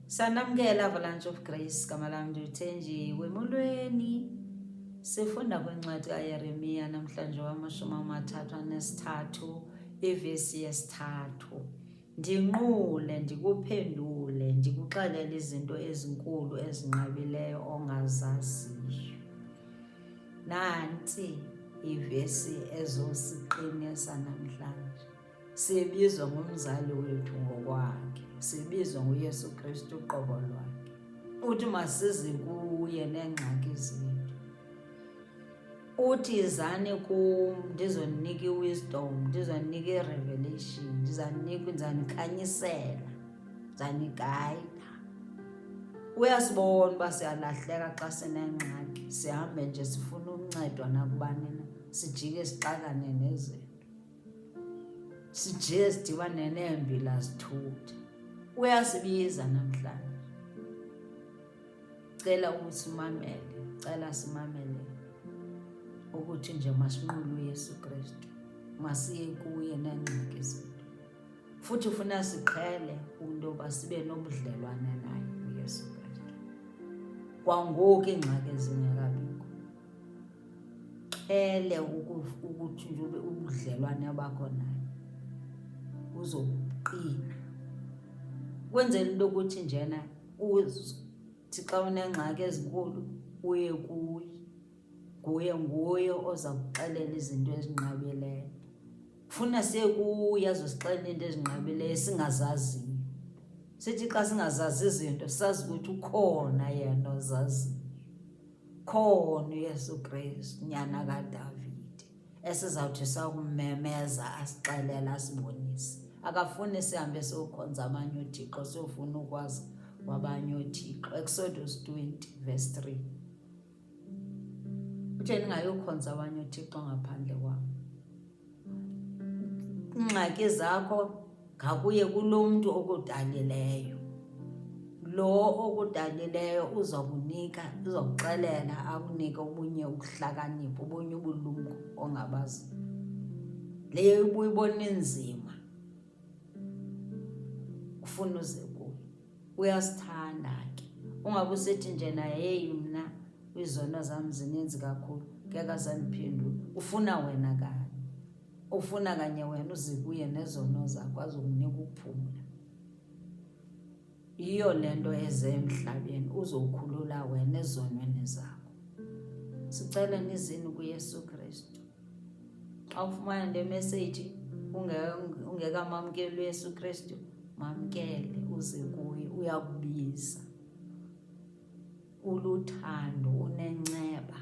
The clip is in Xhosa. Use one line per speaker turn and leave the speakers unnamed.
Sanamkela Avalanche of Grace, gama lam ndiyuthenji wemulweni. Sifunda kwincwadi kaYeremiya namhlanje wamashumi amathathu anesithathu ivesi yesithathu. Ndinqule, ndikuphendule, ndikuxelele izinto ezinkulu ezinqabileyo ongazaziyo. Nanti ivesi ezosiqinisa namhlanje. Sibizwa ngumzali wethu ngokwakhe, sibizwa nguYesu Kristu uqobo lwakhe. Uthi masize kuye neengxaki zethu. Uthi izani kum ndizoninika i-wisdom, ndizoninika i-revelation, ndizaninika ndizanikhanyisela, ndizanikayida. Uyasibona uba siyalahleka xa sinengxaki, sihambe nje sifuna ukuncedwa nakubani na, sijike sixakane nezinto. sije sidibane neembila zithutha uyasibiza namhlanje cela usimamele cela simamele ukuthi nje masinqule uyesu kristu masiye kuye neengxaki zethu futhi ufuna siqhele into yoba sibe nobudlelwane naye uyesu kristu kwangoku iingxaki ezingekabikho uqhele ukuthi ube ubudlelwane bakho naye uzoqina kwenzela into yokuthi njena uthi xa unengxaki ezinkulu uye kuye nguye nguye oza kuxelela izinto ezinqabileyo funa sekuye azosixelela into ezinqabileyo singazaziyo sithi xa singazazi izinto sazi ukuthi ukhona yena ozaziyo Khona uYesu Kristu, nyana kaDavide, esizawuthi sakumemeza asixelele asibonise. Akafuni sihambe siyokhonza abanye othixo, siyofuna ukwazi kwabanye othixo. Exodus 20 verse 3. Uthe ndingayokhonza abanye othixo ngaphandle kwam. iingxaki zakho ngakuye kulo mntu okudalileyo lo okudalileyo uzokunika uzokuxelela akunike obunye ukuhlakanipha obunye ubulumko ongabazi leyo ibuyibona inzima ufuna uze kuye uyasithanda ke ungabe usethi nje naye heyi mna izono zam zininzi kakhulu ngeke azandiphendula ufuna wena kanye ufuna kanye wena uze kuye nezono zakho azokunika ukuphumula Yiyo le nto eze emhlabeni uzokhulula wena ezonweni zakho. Sicela nizini kuYesu Kristu. Xa ufumana le meseji ungekamamkeli uYesu Kristu, mamkele uze kuye uyakubiza. Uluthando unenceba.